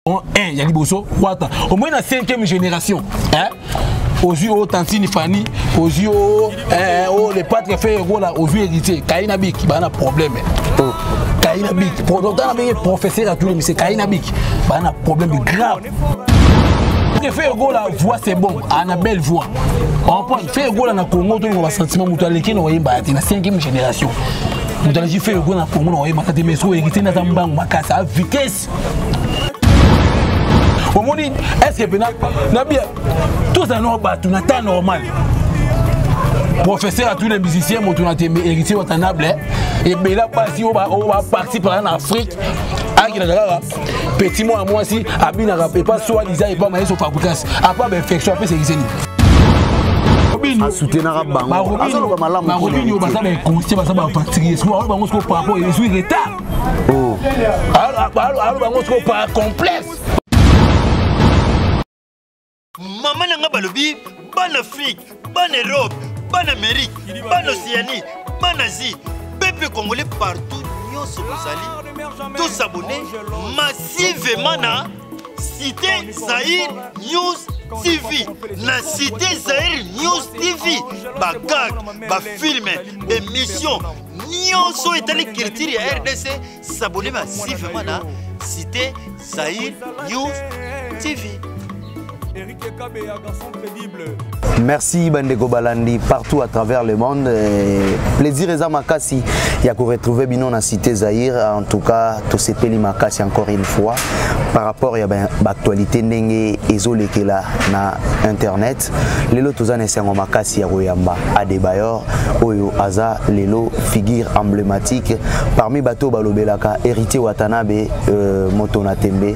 1 eh, ya liboso wata omoi na 5e génération eh? ozwi o tantine fani ozwi o eh, o le patre fe egola ozwi héritier kayi na biki baa na problème oh. kayi na biki otana benge professeur atuli mise kayi na biki baa na problème grave fe egola voix c'est bon a na belle voix empoint fe egola na congo tolinga basentiment moto aleki na oyemba ya te na 5e génération moto aleki fe egola na congo na oyemba kate mais so héritier nde aza mbango makasi a vitesse omoni estce mpe na bia tozala nao bato na temps normal professeur atuna musicien moto na tembe héritier watanable ebela basi oyo baparti mpaka na afrique akendaka kaka petit mwana mwasi abinaka epa soi disa epa mayeso fabricas apa bainfection apesa ekiseni asutenaka bango azoloba malamu bango nini oyo baza bainconsie baza bapartirie bango siko par rapport ezwi retard oh. alo bango soko par complexe mama na ngai balobi bana afrike bana europe bana amerike bana oceanie bana asie peuple congolais partout nyonso bozali tosabone massivement na cité zaire news TV, la cité Zahir News TV, Bagag, ba film, émission, nionso etali culture ya rdc sabone massivement na cité zaire news tv merci bandeko balandi partout à travers le monde plaisir eza makasi ya koretrouve bino na cité zaïre en tout cas tosepeli makasi encore une fois par rapport ya baactualité ndenge ezolekela na internet Est lelo toza na esengo makasi ya koyamba Adebayor oyo aza lelo figure emblématique parmi bato balobelaka héritier Watanabe euh, moto na tembe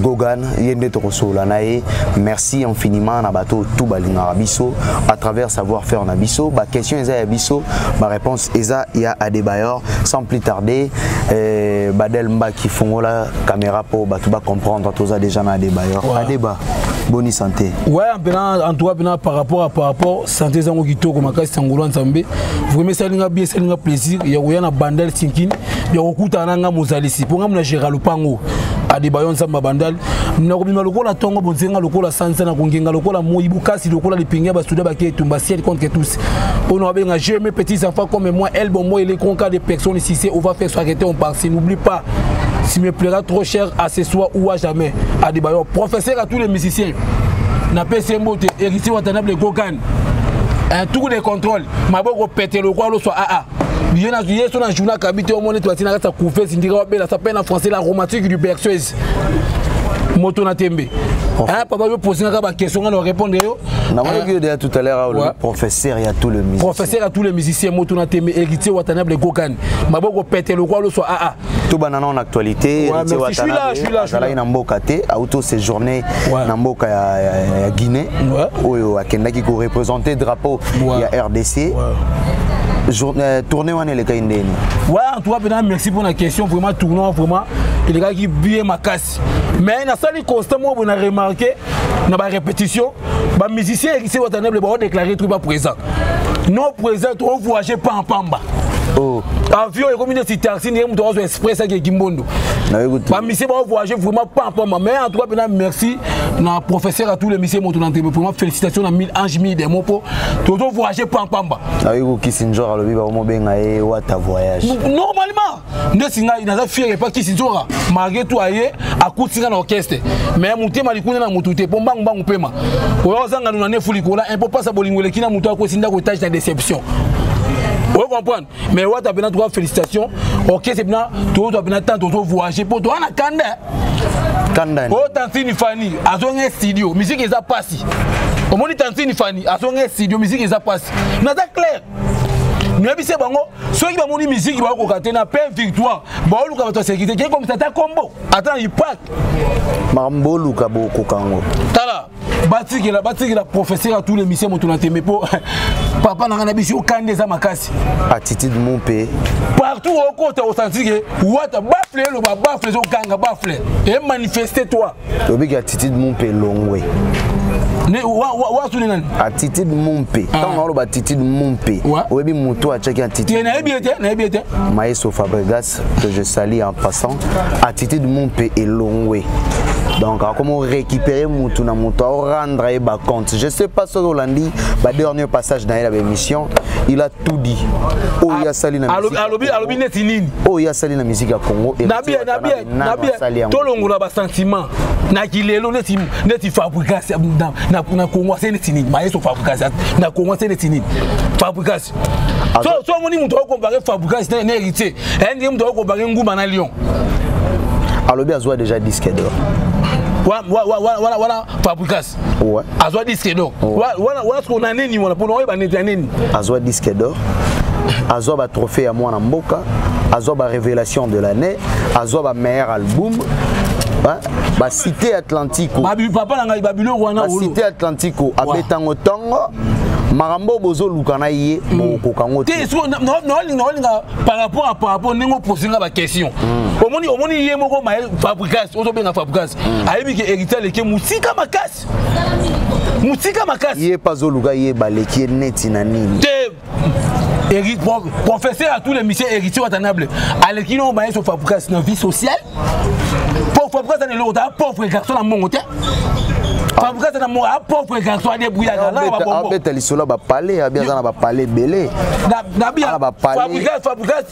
Gogan ye nde tokosolola na ye merci infiniment na bato tout balingaka biso à travers savoir faire na biso ba question eza ya biso ba réponse eza ya Adebayor sans plus tarder euh, Badel Mbaki fongola caméra po bato ba comprendre toza déjà na Adebayor ouais. Adeba boni santé waya mpena entoura mpena par rapport a par rapport santé ezango kitoko makasi sangola nzambe vraimen esalinga bien esalinga plaisir ya koya na bandal sinkini ya kokutana na ngai mozalisi mpo ngai mona gera lopango adeba yo nzambe abandali nakobima lokola ntongo bonzenga lokola sanza na kongenga lokola moi bokasi lokola lipenge ya basoda bake etumba ciel contre tous mpo na babenga je mes petits enfants comme moi el bombo elekonka de personne sise ova faire soirete on parsi n'oublie pas si me plaira trop cher à ce soir ou à jamais adebayor professeur à tous les musiciens na pesi mbote héritier watanable gogan un tour de contrôle maboko pete lokwa loso aa ah, ah. ye na ye so na journal kabi te omoni twati na kati ya couvese ndika wabela sa pe na français la romantique du berceuse moto na tembe hein papa yo poser nga ba question nga na répondre yo na moi que déjà tout à l'heure le professeur ya tout le musicien professeur ya tout le musicien moto na tembe héritier watanable gogan maboko pete lokola loso aa ah, ah. tobanda nao na actualité azalaki na mboka te auto séjourne na mboka ya guinée oyo akendaki koreprésente drapeau ya rdc euh, tournée wana elekaki ndeni ouais en tout cas mpena merci mpona question vraiment tournoi vraiment elekaki bien makasi mais nasali constat moko boye na remarke na barépétition ba musicien ya kisi watanable baodeklare truc ba présent non présent tovoyage pamba pamba oh. avion ekomi neti taxi ndenge moto azwa express ake kimbondo bamisie baovoyage vraiment pamba pamba mais en tout cas mpena merci na professeur atour lemisie moto na ntembe vraiment félicitation na mille ange mille demo mpo tozovoyage pamba pamba aoki kokisi njor alobi baomobenga ye wata voyage normalement nde singa naza fiere epa kisinzoka malgré tout aye akuti nga na orchestre mais motema likuna na motu te mpo mbangu mbangu mpema oyo ozanga nuna nefu likola impo mpasa bolingo eleki na motu akosi ndako etage na déception oyo comprendre mais wata mpena toka félicitation orchestre mpena tozwa mpena temps tozo voyage mpo toa na kanda kanda oyo tantini fani azonga studio miziki eza mpasi omoni tantini fani azonga studio miziki eza mpasi naza claire noyebisi bango soki bamoni miziki bakokoka te na pain victoire baoluka bato ya sekirite kei komisa ata kombo ata na ipak makambo boluka bokoka yango tala batikela batikela professeur ya tous les mise moto na tembe mpo papa na ngai na biso okande eza makasi attitude mon mpe partout okota osantike wata bafle eloba bafle ezoganga bafle emanifeste toi obiki attitude mumpe elongwe wasuni nani attitude mumpe ah. ntango naoloba attitude mumpe oyebi motu atyaki attitude nayebi ye te nayebi ye te maestro fabregas que je sali en passant attitude mumpe elongwe donc akomi orécupere mutu na mutu aorendre ye bacompte je sais pas soki olandi badernier passage na ye na baémission il a tout dit oyo asali na oyo asali na musique ya congo tolongola basentiment na kilelo neti neti fabricas na congo ase neti nini maestro fabricas na congo ase neti nini fabricas so omoni moto akokompare fabricas na héritier eh, ndenge moto akokompare nguma na lion alobi azwa déjà disque d'or wana fabricas ouais. azwa disque d'or ouais. wana wana sikoyo na nini wana mpona oyeba neti ya nini azwa disque d'or azwa batrophée ya mwana mboka azwa barévélation de l'année azwa bameilleur album basite atlantico papa na ngai babiloko wana basite atlantico abetango ntongo makambo bozoluka na ye mm. bokokoka ngo te naolinga par rapport à par rapport ndenge oposi nga baquestion mm. omoni omoni ye moko fabricas ozobenga fabricas hmm. ayebi ke héritier aleki motika makasi motika makasi ye mpe azoluka ye baleki ye neti na nini te professeur à tous les misieux héritier watanable aleki no baye so fabrikasi na vie sociale po fabrikasi ana eloko ta pauvre garçon na mbongo te fabrikasi na mbongo a pauvre garçon adebrouillaka na babongo abeta lisolo ya bapale abi aza na bapale ebele na bia fabrikasi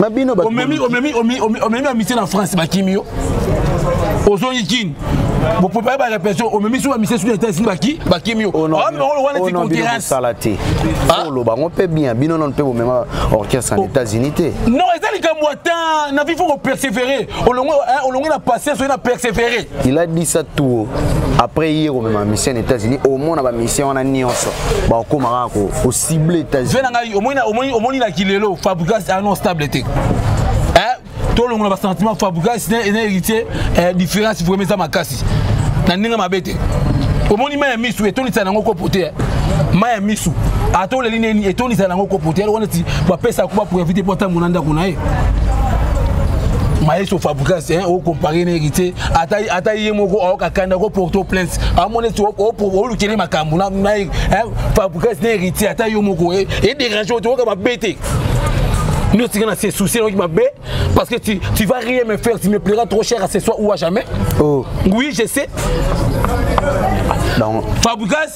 na bino omemi omemi omemi omemi amitié na France bakimi yo ozongi kini boprépare ba répression omemi so bamisi soki eta esili baki bakimi yo omemolo wana ti concurrencesala te oloba yango mpe bien bino nano mpe bomema orchestre na états-unis te non eza likambo ata na bifo kopersévéré olongwe na patience oye na persévéré il a dit ça tout après ye komema mission na états-unis omona bamission wana nyonso bakokoma kaka kocible états-unis na ngai omoni na kilelo fabrigas ano stable te tolongola basentiment fabrigas na héritier eh, différence vraimen eza makasi na ndenge mabe te omoni mai ya misu etondisa yango kopo te eh. mai ya misu ata oleli nini etondisa yango kopo te yango neti bapesa kuba pour evite po atambo na ndako na ye maestro fabrigas hein, au comparé na héritier ata ata ye moko aoka kanda ko porto plainte amone to o lukele makambo na na hein, fabrigas na héritier ata yo moko e eh, dérange to ka ba bete nous tika na se souci na mabe parce que tu tu vas rien me faire tu me plairas trop cher à ce soir ou à jamais oh oui je sais donc fabrigas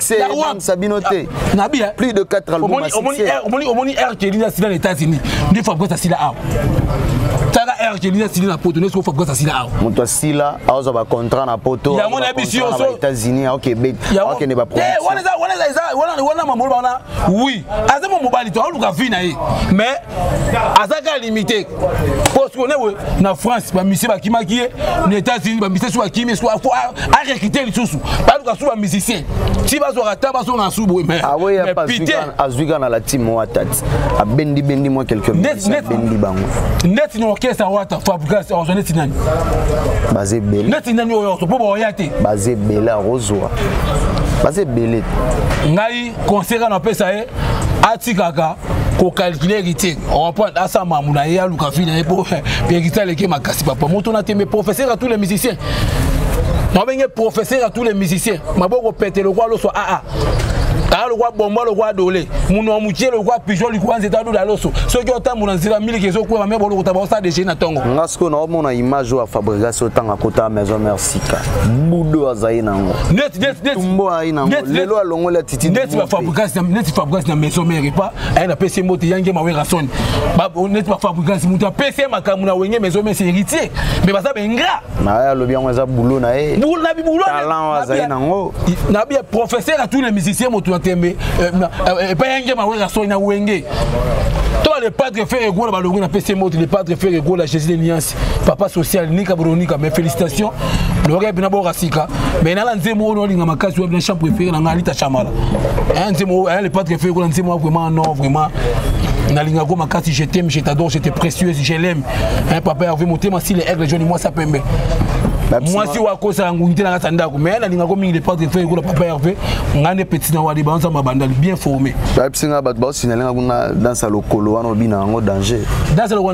succès ebangisa bino te ah, nabi eh? plus de 4 albums omoni r kelina asila na états-unis nde fabrice asila awa tala r kelina asili na poto nesko fabrice asila awa moto asila azwa bacontrat na poto yango na biso yoso états-unis aokebet akende baprowana mamolo wana oui aza mo mobali to aoluka vie na ye mais aza kaka limité osikonewe na france bamisie bakimaki ye na états-unis bamisie so bakimi so arekite lisusu baluka so bamusicien ti bazwaka ata bazonga su boye azwika na latime wata ti abendibendi mwa quelquebendi bango neti na orchestre wata fabrigas ozwa neti nani baza ebele neti nani oyo ozo mpo baoya te baza ebele akozwa baza ebele ngai conseil kana napesa ye atikaka kokalkule héritier orapoi asa mamu na ye aluka vi na ye po héritier aleki makasi papa moto na tembe professeur ya tous les musiciens mabenge professeur ya tous les musiciens maboko pete lokwa loswa aa ah, ah. aa lokwa bomba lokwa adole muno ya mokie lokwa pigeon likwa nzete adola loso soki otambola nzela miliki ezokwema me bolokota baosa dege na ntongo nga sikoyo naomona image oyo ya fabrigas otanga kota maison merci sika budo azali nango tumbo ayi nango lelo alongoli atitidneti fabricas na maison mare epa aye na pesi mbote yange mawerason neti bafabricas moto apesi ye makambo na wenge maison mare se héritier mais baza baingra naye alobi yango eza bulo na ye talent azali nango nabi professeur ya tous les musiciens moto na tembe euh, euh, epa yange mawerason na wenge to le padre ferre egola balongi na pesi mbote le padre ferre egola jésus de niance Christ papa social nika bronika mais félicitations loka bina boka sika mais nala nzembo oyo olinga makasi wapi na champ préféré na ngai alita chamala un nzembo oyo le patre fait kola nzembo vraiment non vraiment nalinga ko makasi je t'aime je t'adore je t'ai précieuse je l'aime hein papa Hervé motema si les aigles jaunes moi ça pembe mwasi oyo akosaka ngungi te na kati ya ndako mai nalingako mingi departe fe ekola papa herve ngai nde petit na wadi banzambe abandali bien formé bayebisi ngai bato baosinalingako nga danse ya lokolo wana obina yango danger danse lokolo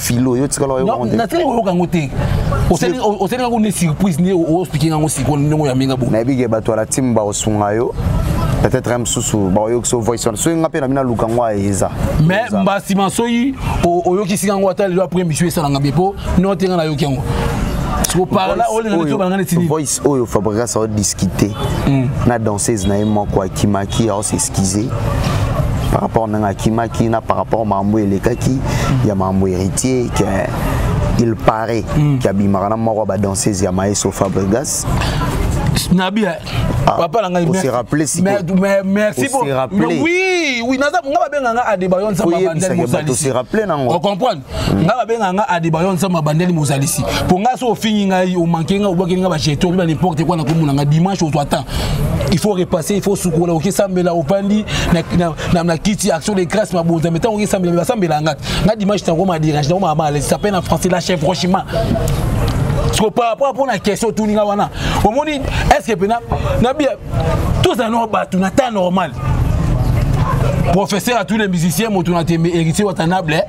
filo yo tikala yo konde na tele oyoka ngo te oseli oseli ngo ne surprise ne o expliquer ngo siko ndongo ya minga bo na bige bato la team ba osunga yo peut-être même susu ba yo so voice on soyi ngape na mina luka ngo eza mais mbasi masoyi oyoki singa ngo ata le après monsieur esala ngabe po non tenga na yoki ngo voice oyo fabrigas aodiscute na danseuse na ye moko akimaki aosesi kize par rapport na nga kimaki na par rapport mambo elekaki ya mambo héritier que il paraît mm. qu'il abimaka na moko ba danseuse ya Maestro Fabregas nabi eh. ah, papa na ngai merci rappeler si mais, mais merci pour mais oui oui naza nga babenga nga adebayon nzamba banzali mosali se rappeler nango on comprendre Mm. nga babenga nga adebayo nzambe abandeli mozalisi mpo nga so ofingi ngai omanke nga obwakeli nga bajeto obi banimporte kua na komona nga dimanche ozwa temps il faut repasser il faut sukola okesambela opandi na kiti action de grâce mabonza me ntango okesambela me basambela nga nga dimanche nakoma derange nakoma malesi ape na français la chef franchement siko par rapport mpo na question otuni nga wana omoni est ce que mpena nabia tozala nao bato na temps normal professeur à tous les musiciens moto na tembe héritier watanable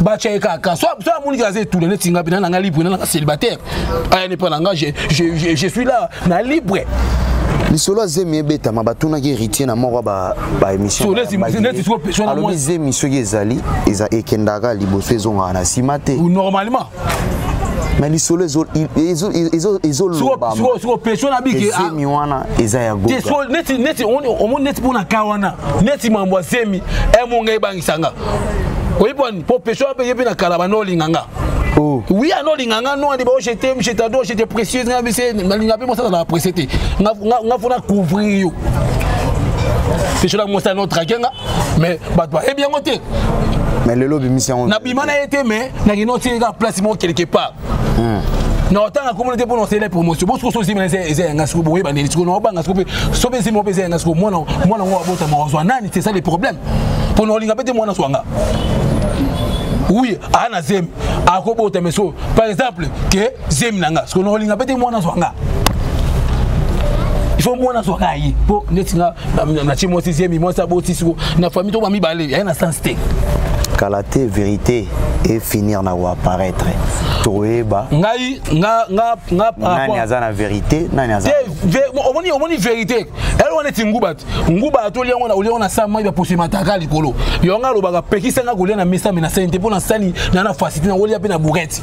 batya ye kaka so amoni aza etula neti nga pena nanga libre nananga célibataire aya nepa nanga je suis là na libre lisolo ya zemi ebetama batunaki héritier na moko ya baémissionalobi zemi soki ezali eza ekendaka liboso ezongaka na nsima te normalement mais lisolo ezolobamopesio na bike zemi wana eza ya goga neti mpo na ka wana neti mambo ya zemi emonga ebang lisanga oyebi bwani mpo peso ape ye mpe na kala bana olinga nga Oh. Oui, alors les nganga non, les je t'aime, je t'adore, je t'ai précieuse, nga bise, nga linga pe mosa na apprécier te. Nga nga fona couvrir yo. C'est cela mosa no traquer nga, mais ba toi eh bien moté. Mais le lobby mission. Na bimana été mais na kino tika place mo quelque part. Hmm. na otanga komona te mpona osele promotion bo sikoso ozimela eza yanga siko boyeba ndeni siko naobanga siko mpe so mpe ezimela mpe eza yanga siko mwana yango abotama ozwa nani c'est ça le problème mpona olinga mpe te mwana swanga oui aa na zemi akobota meso par exemple ke zemi na nga siko naolinga mpe te mwana azwa nga il faut mwana azwa nga ye mpo neti nga na tie mwasi zemi mwasi aboti siko na famille to bamibale yaye na sens te kala te vérité et finir na koapparaître toyeba ngai nga nga nga nani aza na vérité nani aza omoni omoni vérité ele wana eti nguba te nguba atoli yango olia wana sa mai bapose mataka likolo yango alobaka pekisa nga kolia na mesa me nasali te mpo nasali na na fasite na olia mpe na bourete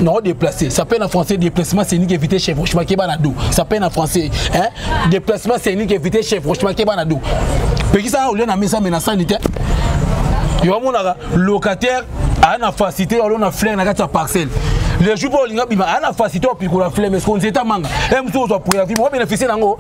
non déplacé ça peine en français déplacement c'est unique éviter chef franchement qui est dos ça peine en français hein déplacement c'est unique éviter chef franchement qui est dos peki ça au lieu na mesa menace sanitaire yo amonaka locataire aya na facilité alo na flaire na kati ya parcelle le jour mpo olinga bima aya na facilité opikola flaire mais konzeta manga e mosusu ozwa préavis moko bénéficie nango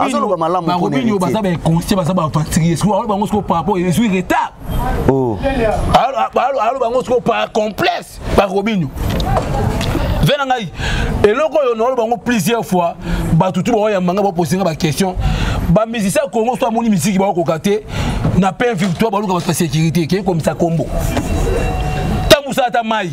azoloba malamu barobini oyo baza bainconscient baza baaventurier sikoyo aloba yango sikoyo par rapport ezwi retard oh. aloba yango sikoyo par complexe barobini ve na ngai eloko oyo naoloba yango plusieurs fois bato tu baoyamba ngai bapose ngai baquestion bamizisi ya kongo so amoni miziki baokoka te na pain victoire baluka bato ya sécurité kei komisa kombo tambusaka ata mai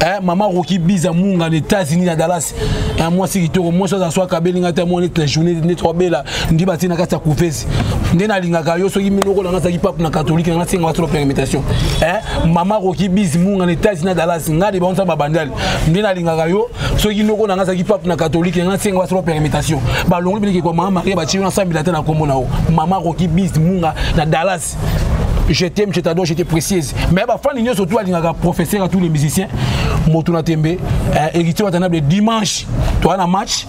eh, mama roki biza munga na états-unis na dallas eh, mwasi kitoko mwasi aza so akabeli ngai te mwa neti na journée neti wabela ndi batie na kati ya kuvesi nde nalingaka yo soki minoko nanga azalaki pape na katolike nanga asenga wasolo permutation eh, mama roki bizi munga na états-unis na dallas ngai de baonsa babandali nde nalingaka yo soki noko nanga azalaki pape na katolike nanga asenga wasolo permutation balongoli bilekekwa mama maria batie yo nasambila te na nkombo na yo mama roki bizi munga na dallas Christ. Je t'aime, je t'adore, je te précise. Mais bah fan nyoso tout alingaka professeur à tous les musiciens. Moto na tembe, eh, héritier watanable dimanche. Toi na match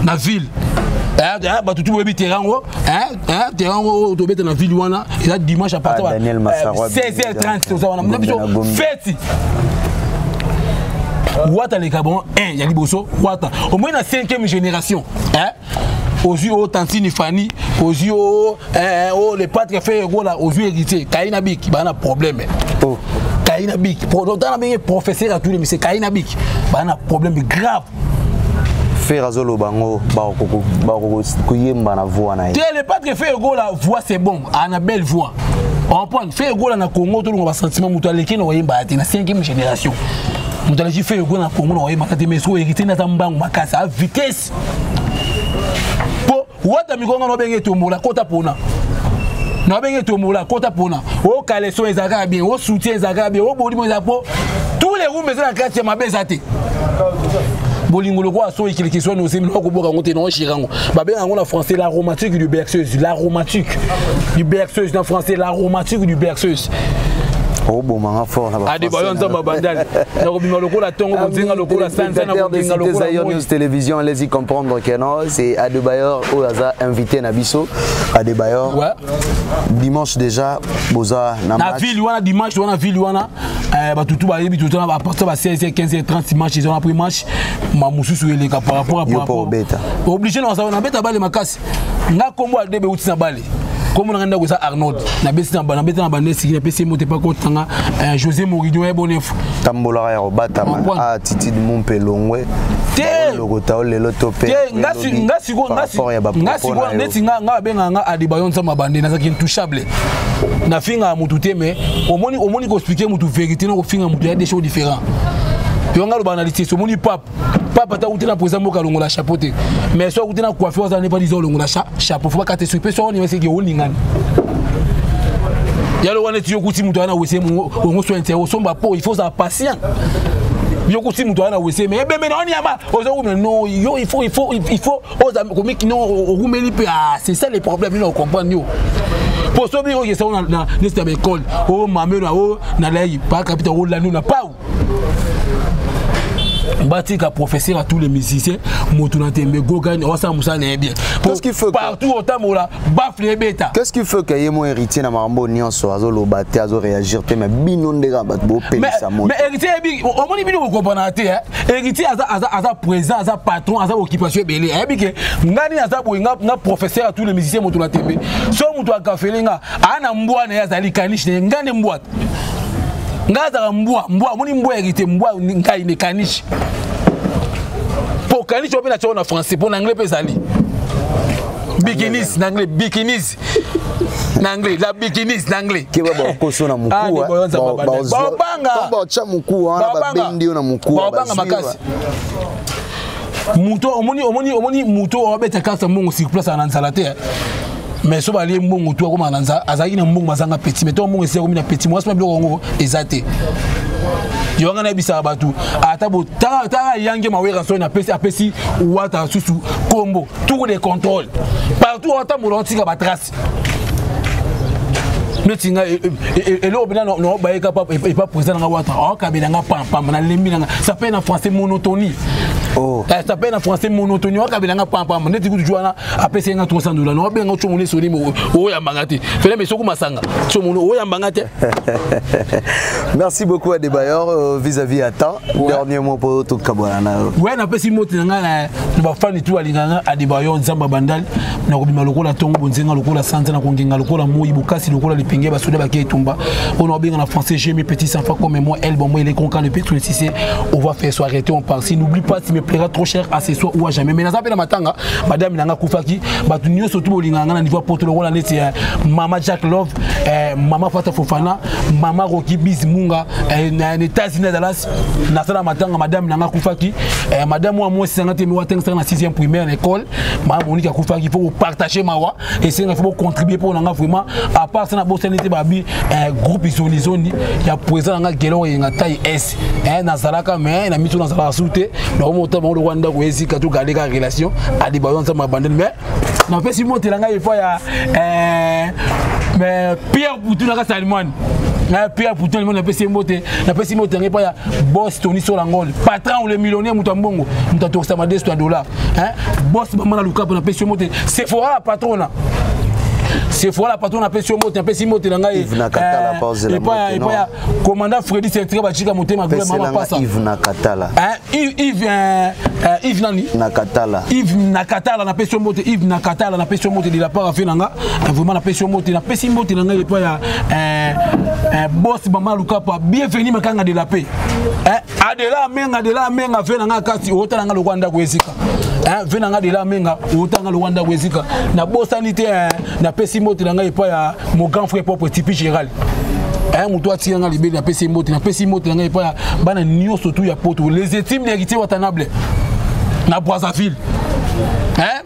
na ville. Eh, eh, bato tu boyebi terrain yango eh, terrain yango oyo tobeta na ville wana eza dimanche à partir ah, ya 16h30 toza wana na biso feti wata aleka bango 1 ya liboso wata omoi na 5e génération eh? ozwi o oh, tantini fani ozwi o oh, eh, eh, oh, le patre fe egola ozwi héritier kayi na biki baa na problème oh. kayi na biki ota na benge professeur ya tule mise kayi na biki baa na problème grave fer azoloba yango bakokoyemba na voix na ye te le patre fe egola voix c'est bon ana belle voix comprendre fe egola na congo tolonga basentiment moto aleki na koyemba ya te na cinquième génération moto aleki fe egola na congo na koyemba kate mais soki héritier nata mbangu makasi a vitesse po wata mikonga no benge tombola kota pona na benge tombola kota pona o caleçon ezalaka bien o soutien ezalaka bien o bolimo eza po tous les rooms eza na kati ya mabe eza te bolingo lokola soki kilikiswa na ozemi noko koboka yango te na oshira yango babenga yango na français la romantique du berceuse la romantique du berceuse na français la romantique du berceuse obomanga fort na ba adebayo nzambe abandali nakobima lokola ntongo bozinga lokola sanza nakodenga lokola télévision allez-y comprendre que non c'est Adebayor oyo aza invité na biso Adebayor ouais. dimanche déjà boza na match na ville wana dimanche wana ville wana euh, bato tout bayebi tout na partir ba 16 15 30 dimanche ils ont pris match ma mususu eleka par rapport à par rapport obligé na ça na beta bale makasi nga kombo Adebe uti na bale kombo nanga ndako eza arnold nabeti na nabeta na bande esiki napesi moto epa kotanga eh, josé moridio ya bonefo tambolaka ya kobatama ah, titide mumpe elongwe telokota o lelo to mpe nga sikoyo neti nga babengaka nga adebayo nzambe abande nazalaki intouchable nafingaka motu te mais omoni koexplike motu vérité na kofinga motu ya des choses différent yo nga loba na lisese omoni pape papa ata kuti na président mboka alongola chapeau te mais soki akuti na coiffe aza nepa lizo olongola chapeau fo bakate soki mpe soki onima eseki olingani yalo wana eti yokuti moto aya na wese ongo soin te osomba po il faut ozala patient yokuti moto aya na wese me ebembe na wani yaba ozokume no yo il faut il faut il faut oza komiki no okumeli mpe ah c'est ça le problème ino ocomprendre yo po soki oyo esango na nesi ya baekole o mamelo na o na layi pakapita olandi na pau batika professeur à tous les musiciens moto na tembe gogani osala mosala na ye bien partout otambola bafle ebeta qu'est-ce qui fait que ye mo héritier na makambo nyonso azoloba te azoréagir te mais bino nde kaka bato bopelisa moto mais héritier yebi omoni bino kokompanaka te héritier aza présent aza patron aza occupation ebele ayebi ke ngai nini aza boye nga professeur à tous les musiciens moto na tembe so moto akafele nga aa na mbwa na ye azali kanishi na ye ngai nde mbwa ngai azalaka mbwa mbwa omoni mbwa hérité mbwa ngai ne kanishi mpo kanishi ope na tioko na français mpo na anglais mpe ezali bikinis na anglais bikinis na anglais la bikinis na anglais keba bakoso na mukubaobangababanga muku wana babendi yo na muku baobanga makasi moto omoni omoni omoni moto oyo abeta kasa mbongo sur place ana nzala te mais so balie mbongo tu akoma na azalaki na mbongo azanga petit mais to mbongo esi akomi na petit mwasi mpe biloko yango eza te yo wanga nayebisaka bato ata botala yange mawera soni apesi apesi wata susu kombo tour de contrôle partout atambola otika batrace neti nga e, e, e, eloko mpena naobayeka epa président nanga wata aokabela nga pampamba nalembi nanga ça pe na français monotonie oh. eh, ça pe na français monotonie aokabela nga pampamba neti kutu jwana apesa ye nga 300 dola na obenga otyo moni esoni oyambanga te fele mpe soki masanga tyo moni oyambanga te merci beaucoup adebayor euh, vis-à-vis ya temps dernier mot mpo tokabwana na yo we napesi moti na ngai na bafani tu alinga nga adebayor nzambe abandali nakobima lokola ntongo bonzenga lokola sanza nakongenga lokola moi bokasi lokola lipinge basoda bake etumba oyo na obenga na français j'ai mes petits enfants comme moi elle bon moi il est concan le pétrole si c'est on va faire soirée on part si n'oublie pas tu me plaira trop cher à ce soir ou à jamais mais naza mpe na matanga madame na nga akufaki bato nyonso tu bolingaka nga na niveau ya poto lokola neti eh, mama jack love eh, mama fata fofana mama roki bis munga eh, na états-unis na dallas nasala matanga madame na nga akufaki eh, madame wa mwasi nanga te mi watangisaka na 6e primaire na école mama moniki akufaki il faut kopartage mawa esenga faut bocontribue mpo na nga vraiment à part ça nabosani te babi eh, groupe zonizoni ya président na nga gelor yenga tai s eh, nazalaka me na miso nazalaka su te nakomota bango lokola ndako ezika to garde kaka relation aliba yo nzambe abandeli mais napesi motela ngai epai ya eh, pierre putu na kasi alimwani na pierre putin limoni napesi ye mbote napesi mbote yango epai ya bos tony solangol patron le millionnaire moto ya mbongo moto atokisa madesto ya dollar bos mama na lukapo napesi ye mbote sefora patrona sefora patrona apesi yo mbote napesi mbote na ngai Commandant Freddy Sertira Bachika Motema Gloire Mama Pasa. Yves Nakatala. Hein, Yves, Yves, euh, euh, Yves nani Nakatala. Yves Nakatala na pesi mbote Yves Nakatala na pesi mbote de la part afela nga. Euh, vraiment na pesi mbote na pesi mbote na nga epa ya euh, euh, boss Mama Lukapa. Bienvenue makanga de la paix. Hein, Adela Menga de la Menga afela nga kasi otala nga lokwa ndako ezika. eh, ve na ngai lela menga otanga lowa ndako ezika nabosani te eh, napesi mbote na ngai epai ya mo grand frère propre tipi géral eh, moto atika ngai libeli napesi mbote napesi mbote na ngai epai ya bana nyonso tu ya poto les etimes ya kitie watanable na brazzaville eh?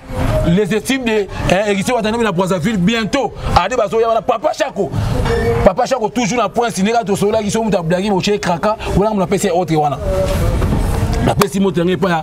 les estimes de eh, héritier watanabe na brazzaville bientôt ade ah, bazoya wana papa chako papa chako toujours na prince ndenge tosololaki so moto ablagi boche kraka wana mo napesi autre wana napesi moto yango epai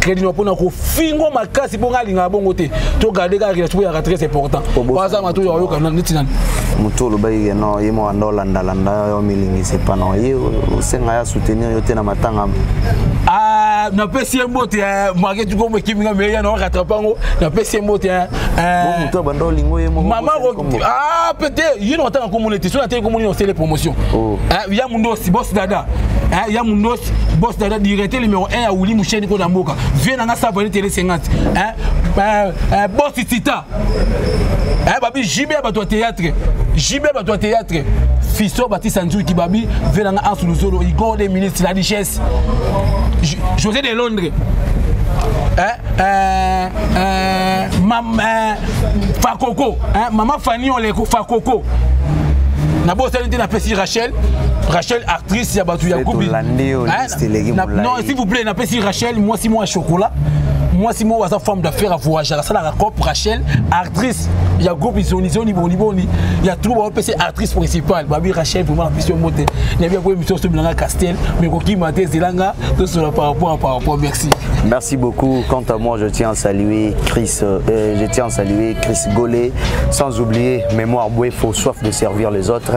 crédino mpona kofingo makasi mpo ngai alingaka bongo te to garde kaka relation oyaka très important baza mato oyo ayoka neti nani motu olobaki ke non ye moko anda olandalanda yo milingisa epa non ye osenga ya soutenir yo te na matanga ah, napesi ye mbote eh, mwake tukomo ekimi nga meya na rattrape yango napesi ye mbote eh, eh. motu abanda olingo ye moko mama ah, pete ye na otanga komona ete so natei komona osele promotion oh. ya mundosi bos dada ya mundosi bos dada direte numéro 1 ya wuli musheni ko na mboka vie na nga sa vale tele 50 hein euh, euh, boss tita eh babi JB ya bato ya théâtre JB ya bato ya théâtre fiso batisa nzuki babi vie na nga ansu luzolo igor de ministre la richesse José de Londres eh, eh, eh, mam, eh, fakoko eh, mama fani oleko fakoko nabosani te napesi rachel rachel actrice ya bato ya kubi non s'il vous plaît napesi rachel mwasi mwa ya chocolat mwasi moko aza femme d'affaire avoyagaka asalaka cop rachel actrice ya groupe izonizoni boniboni ya troupe baopesa actrice principale babi rachel vraiment napesi yo mbote nayebi yango émission oso bilanga castel mais kokima te ezelanga tosola par rapport à par rapport merci merci beaucoup quant à moi je tiens à saluer chris euh, euh je tiens à saluer chris golet sans oublier mémoire bouefo soif de servir les autres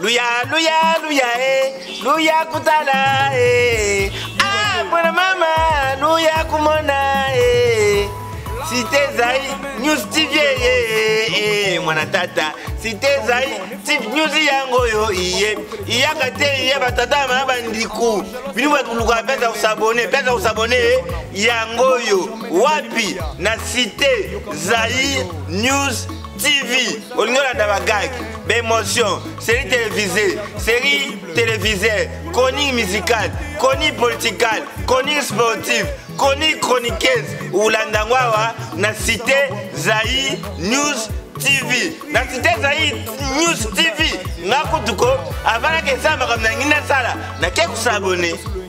luya luya luya e luya kutala e ah mwana mama luya kumona e site ezai news tv eye e mwana tata site ezai tip news yango oyo iye iyaka te iye batata ya mama bandiku bino bato koluka pesa kosabone pesa kosabone e yango oyo wapi na site zai news TV, au lieu de la gag, d'émotion, série télévisée, série télévisée, chronique musicale, chronique politique, chronique sportive, chronique chroniqueuse, ou l'andangwawa, na cité Zaï News TV. Na cité Zaï News TV, na kutuko, avant que ça, madame Nangina Sala, na quelques abonnés.